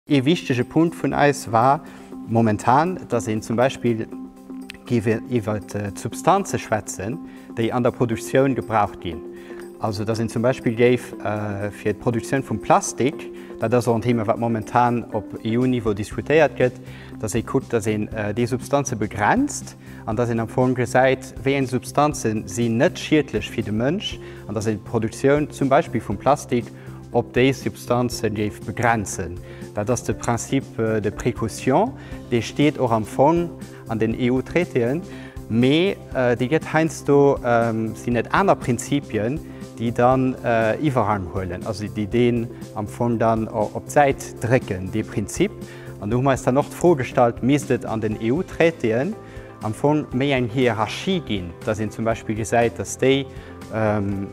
Ee wichtege Punkt vun eis war momentan, dass een zum Beispill géif iwwer d'Substanze schwätzen, déi an der Produktioun gebraucht ginn. Also, dass een zum Beispill géif fir d'Produktioun vum Plastik, dat ass och en Thema, wat momentan op EU-Niveau diskutéiert gëtt, dass ee kuckt, dass een déi Substanze begrenzt, an dass een am Fong gesäit, wéi eng Substanze si net schiedlech fir de Mënsch, an dass een d'Produktioun zum Beispill vum Plastik op déi Substanze géif begrenzen. Dat ass de Principe de précaution, dee steet och am Fong an den EU-Traitéen, mee dee gëtt heiansdo, sinn et aner Prinzipien, déi dann Iwwerhang huelen, also déi deen am Fong dann op d'Säit drécken, dee Prinzip. An do hu mer eis dann och d'Fro gestallt, misst et an den EU-Traitéen am Fong méi eng Hierarchie ginn, dass een zum Beispill gesäit, dass déi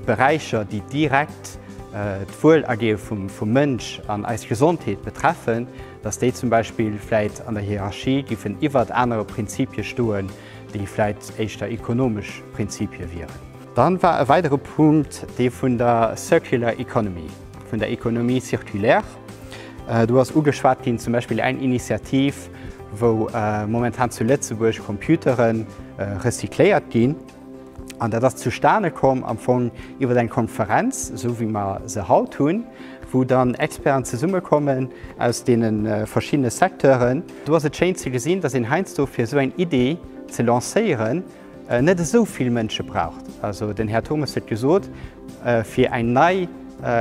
Beräicher, déi direkt d'Wuelergeo vum Mënsch an eis Gesondheet betreffen, dass déi zum Beispill vläicht an der Hierarchie giffen iwwert anere Prinzipie stoen, déi vläicht éischter ekonomesch Prinzipie wieren. Dann war e weidere Punkt dee vun der Circular Economy, vun der Economie circulaire. Do ass ugeschwat ginn zum Beispill eng Initiativ, wou momentan zu Lëtzebuerg Computere recycléiert ginn. An dat ass zustane komm am Fong iwwer eng Konferenz, esou wéi mer se haut hunn, wou dann Experten zesummekommen aus deene verschiddene Secteuren. Do ass et schéin ze gesinn, datt een heiansdo fir esou eng Iddi ze lancéieren, net esou vill Mënsche braucht. Also den Här Turmes huet gesot, fir eng nei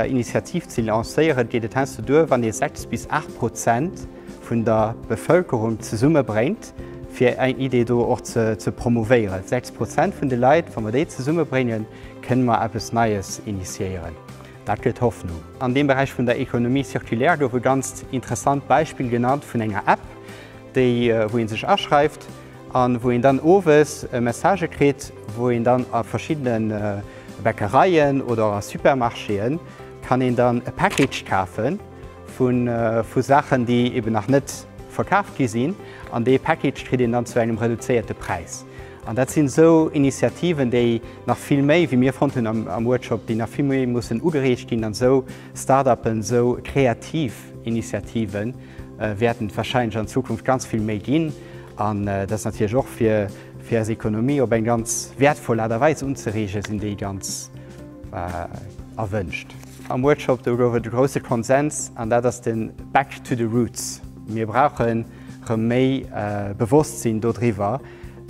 Initiativ ze lancéieren, geet et heiansdo duer, wann ee sechs bis aacht Prozent vun der Bevëlkerung zesummebréngt, fir eng Idee do och ze promouvéieren. Sechs Prozent vun de Leit, wa mer déi zesummebréngen, kënne mer eppes Neies initiéieren. Dat gëtt Hoffnung. An deem Beräich vun der Économie circulaire gouf e ganzt interessant Beispill genannt vun enger App, déi, wou ee sech aschreift, an wou een dann owes e Message kritt, wou een dann a verschiddene Bäckereien oder a Supermarchéen kann een dann e Package kafe vu Saachen, déi eben nach net verkaf gi sinn, an dee Package kritt een dann zu engem reduzéierte Präis. An dat sinn esou Initiativen, déi nach vill méi, wéi mir fonnt hunn am Workshop, déi nach vill méi mussen ugereegt ginn an esou Start-upen, esou kreativ Initiativen, wäerten et wahrscheinlech an Zukunft ganz vill méi ginn, an dat ass natierlech och fir eis Economie op eng ganz wäertvoll Aart a Weis unzereegen, sinn déi ganz erwënscht. Am Workshop do gouf et e grousse Konsens, an dat ass den Back to the roots. Mir brauchen erëm méi Bewosstsinn dodriwwer,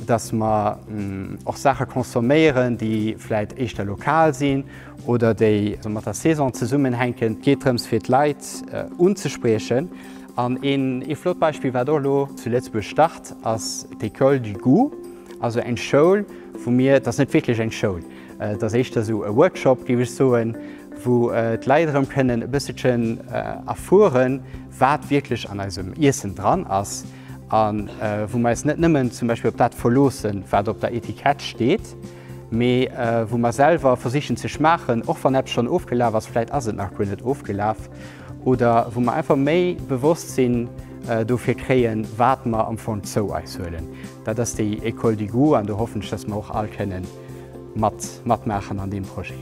dass mer och Saache consomméieren, déi vläit éischter lokal sinn, oder déi mat der Saison zesummenhänken. Et geet drëms fir d'Leit unzespriechen an een ee flott Beispill wat och elo zu Lëtzebuerg start ass d'Ecole du goût, also eng Schoul wou mir, et ass net wierklech eng Schoul, et ass éischter esou e Workshop géif ech soen, wou d'Leit erëm kënnen e bësselchen erfueren wat wierklech an eisem Iessen dran ass a wou mer eis net nëmmen zum Beispill op dat verloossen wat op der Etikett steet. mee wou mer selwer versichen ze schmaachen, och wann eppes schonn ofgelaf ass, vläicht ass et nach guer net ofgelaf, oder wou mer einfach méi Bewosstsinn dofir kréien, wat mer am Fong zou eis huelen. Dat ass déi Ecole du goût an do hoffen ech, dass mer och all kënnen matmaachen an deem Projet.